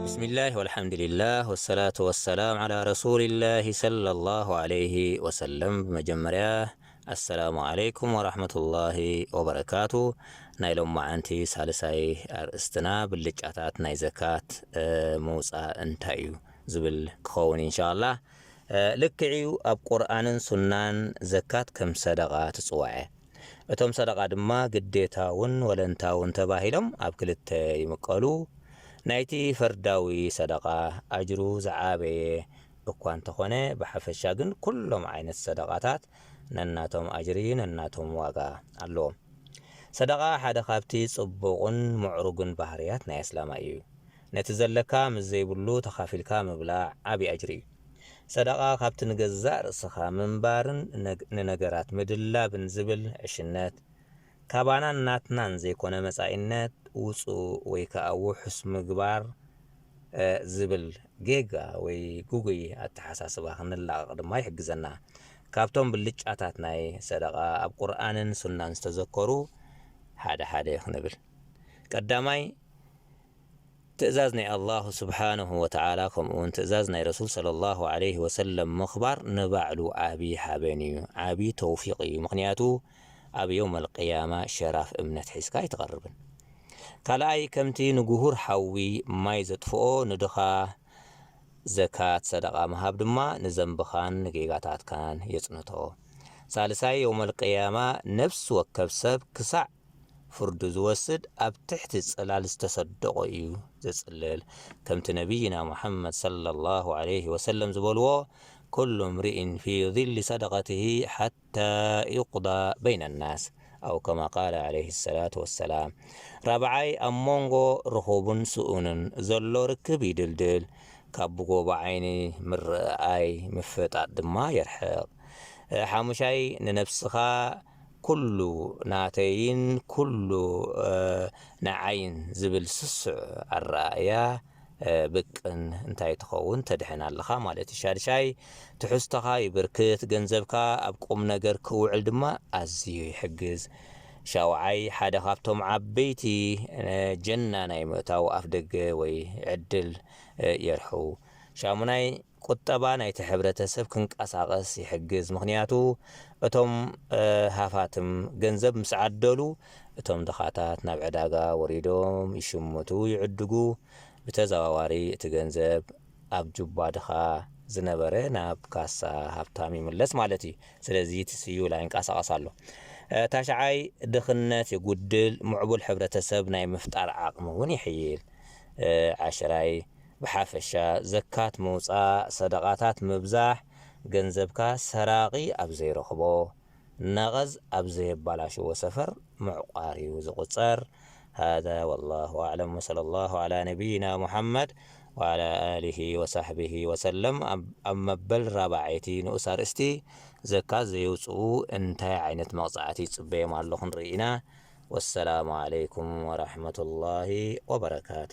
ብስሚላህ ወልሓምዲሊላህ ወሰላቱ ወሰላም ዓላ ረሱሊላህ ሰለላሁ ዓለይሂ ወሰለም ብመጀመርያ ኣሰላሙ ዓለይኩም ወራህመቱላሂ ወበረካቱ ናይ ሎማዓንቲ ሳልሳይ ኣርእስትና ብልጫታት ናይ ዘካት ምውፃእ እንታይ እዩ ዝብል ክኸውን ኢንሻላህ ልክዕ እዩ ኣብ ቁርኣንን ሱናን ዘካት ከም ሰደቓ ትፅዋዐ እቶም ሰደቓ ድማ ግዴታውን ወለንታውን ተባሂሎም ኣብ ክልተ ይምቀሉ። ናይቲ ፈርዳዊ ሰደቓ ኣጅሩ ዝዓበየ እኳ እንተኾነ ብሓፈሻ ግን ኩሎም ዓይነት ሰደቓታት ነናቶም ኣጅሪ ነናቶም ዋጋ ኣለዎም። ሰደቓ ሓደ ካብቲ ጽቡቕን ምዕሩግን ባህርያት ናይ ኣስላማይ እዩ። ነቲ ዘለካ ምስ ዘይብሉ ተኻፊልካ ምብላዕ ዓቢ ኣጅሪ እዩ። ሰደቓ ካብቲ ንገዛእ ርእስኻ ምንባርን ንነገራት ምድላብን ዝብል ዕሽነት፣ ካባናን ናትናን ዘይኮነ መጻኢነት ውጹ ወይ ከኣ ውሑስ ምግባር ዝብል ጌጋ ወይ ግጉይ ኣተሓሳስባ ክንላቐቕ ድማ ይሕግዘና። ካብቶም ብልጫታት ናይ ሰደቓ ኣብ ቁርኣንን ሱናን ዝተዘከሩ ሓደ ሓደ ክንብል። ቀዳማይ፣ ትእዛዝ ናይ ኣላሁ ሱብሓነሁ ወተዓላ ከምኡውን ትእዛዝ ናይ ረሱል ሰለላሁ ዓለይሂ ወሰለም ምኽባር ንባዕሉ ዓቢ ሓበን እዩ፣ ዓቢ ተውፊቕ እዩ፣ ምኽንያቱ ኣብ የውመል ቂያማ ሸራፍ እምነት ሒዝካ ኣይትቐርብን። ካልኣይ ከምቲ ንጉሁር ሓዊ ማይ ዘጥፍኦ ንድኻ ዘካት፣ ሰደቓ፣ ምሃብ ድማ ንዘንብኻን ንጌጋታትካን የጽንቶ። ሳልሳይ የውመል ቂያማ ነፍሲ ወከፍ ሰብ ክሳዕ። ፍርዱ ዝወስድ ኣብ ትሕቲ ጽላል ዝተሰደቖ እዩ ዘጽልል ከምቲ ነብይና ሙሐመድ ሰለላሁ ዓለይሂ ወሰለም ዝበልዎ ኩሉ እምሪኢን ፊ ዚሊ ሰደቐትሂ ሓታ ዩቅዳ በይነ ናስ ኣው ከማ ቃለ ዓለይሂ ሰላቱ ወሰላም ራብዓይ ኣብ ሞንጎ ርኹብን ስኡንን ዘሎ ርክብ ይድልድል ካብ ብጎቦ ዓይኒ ምርኣኣይ ምፍጣጥ ድማ የርሕቕ ሓሙሻይ ንነብስኻ ኩሉ ናተይን ኩሉ ንዓይን ዝብል ስሱዕ ኣረኣእያ ብቅን እንታይ ትኸውን ተድሕን ኣለኻ ማለት እዩ ሻድሻይ ትሕዝቶኻ ይብርክት ገንዘብካ ኣብ ቁምነገር ክውዕል ድማ ኣዝዩ ይሕግዝ ሻውዓይ ሓደ ካብቶም ዓበይቲ ጀና ናይ ምእታው ኣፍደገ ወይ ዕድል የርሕው ሻሙናይ ቁጠባ ናይቲ ሕብረተሰብ ክንቀሳቐስ ይሕግዝ፣ ምኽንያቱ እቶም ሃፋትም ገንዘብ ምስ ዓደሉ እቶም ድኻታት ናብ ዕዳጋ ወሪዶም ይሽምቱ፣ ይዕድጉ፣ ብተዘዋዋሪ እቲ ገንዘብ ኣብ ጁባ ድኻ ዝነበረ ናብ ካሳ ሃብታም ይምለስ ማለት እዩ። ስለዚ እቲ ስዩላ ይንቀሳቐስ ኣሎ። ታሽዓይ ድኽነት የጉድል፣ ምዕቡል ሕብረተሰብ ናይ ምፍጣር ዓቕሚ እውን የሕይል። ዓሽራይ ብሓፈሻ ዘካት ምውጻእ፣ ሰደቓታት ምብዛሕ፣ ገንዘብካ ሰራቒ ኣብ ዘይረኽቦ፣ ነቐዝ ኣብ ዘየባላሽዎ ሰፈር ምዕቋር'ዩ ዝቑጸር። ሃዛ ወላሁ ኣዕለም ወሰለላሁ ዓላ ነቢይና ሙሓመድ ወዓላ ኣሊሂ ወሳሕቢሂ ወሰለም ኣብ መበል ራብዓይቲ ንኡስ ኣርእስቲ ዘካት ዘየውጽኡ እንታይ ዓይነት መቕጻዕቲ ይጽበዮም ኣሎ ክንርኢ ኢና። ወሰላሙ ዓለይኩም ወራሕመቱላሂ ወበረካቱ።